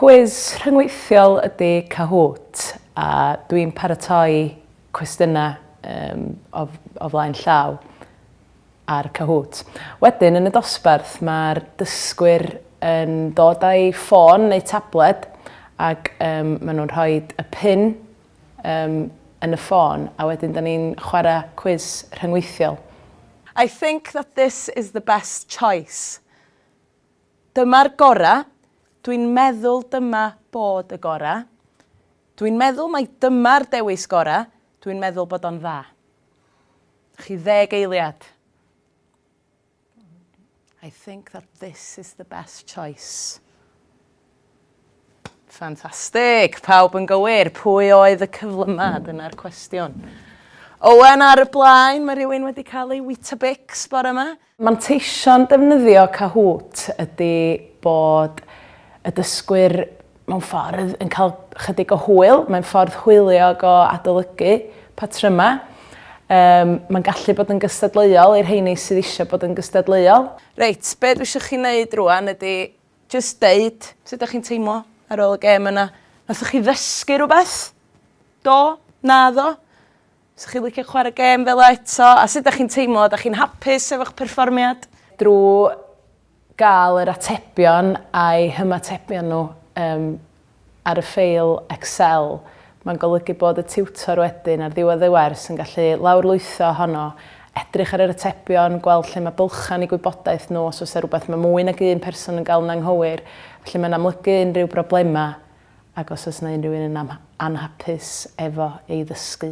Cwis rhyngweithiol ydy Kahoot a dwi'n paratoi cwestiynau um, o, o flaen llaw. a'r Kahoot. Wedyn, yn y dosbarth, mae'r dysgwyr yn dod â'u ffôn neu tabled ac um, maen nhw'n rhoi y pin um, yn y ffôn a wedyn da ni'n chwarae cwiz rhyngweithiol. I think that this is the best choice. Dyma'r gorau. Dwi'n meddwl dyma bod y gorau. Dwi'n meddwl mai dyma'r dewis gorau. Dwi'n meddwl bod o'n dda. Chi ddeg eiliad. I think that this is the best choice. Ffantastig, pawb yn gywir. Pwy oedd y cyflymad? Dyna'r cwestiwn. Owen ar y blaen, mae rhywun wedi cael ei Weetabix bore yma. Manteision defnyddio Kahoot ydy bod y dysgwyr mewn ffordd yn cael chydig o hwyl, mae'n ffordd hwyliog o adolygu patrymau. Yym, mae'n gallu bod yn gystadleuol i'r rheini sydd eisiau bod yn gystadleuol. Reit, be dwi isio chi wneud rwan ydy jyst deud sut ydych chi'n teimlo ar ôl y gêm yna. Wnaethoch chi ddysgu rhywbeth? Do? Naddo? 'Sa chi'n licio chwarae gêm fel 'a eto? A sut 'dach chi'n teimlo? Ydach chi'n hapus efo'ch perfformiad? Drwy gael yr atebion a'u hymatebion nhw um, ar y ffeil Excel, mae'n golygu bod y tiwtor wedyn ar ddiwedd y wers yn gallu lawrlwytho ohono, edrych ar yr atebion, gweld lle mae bylchau yn eu gwybodaeth nhw, os oes 'na rhywbeth mae mwy nag un person yn gael yn anghywir, felly mae'n amlygu unrhyw broblemau. ac os oes 'na unrhyw un yn anhapus efo ei ddysgu.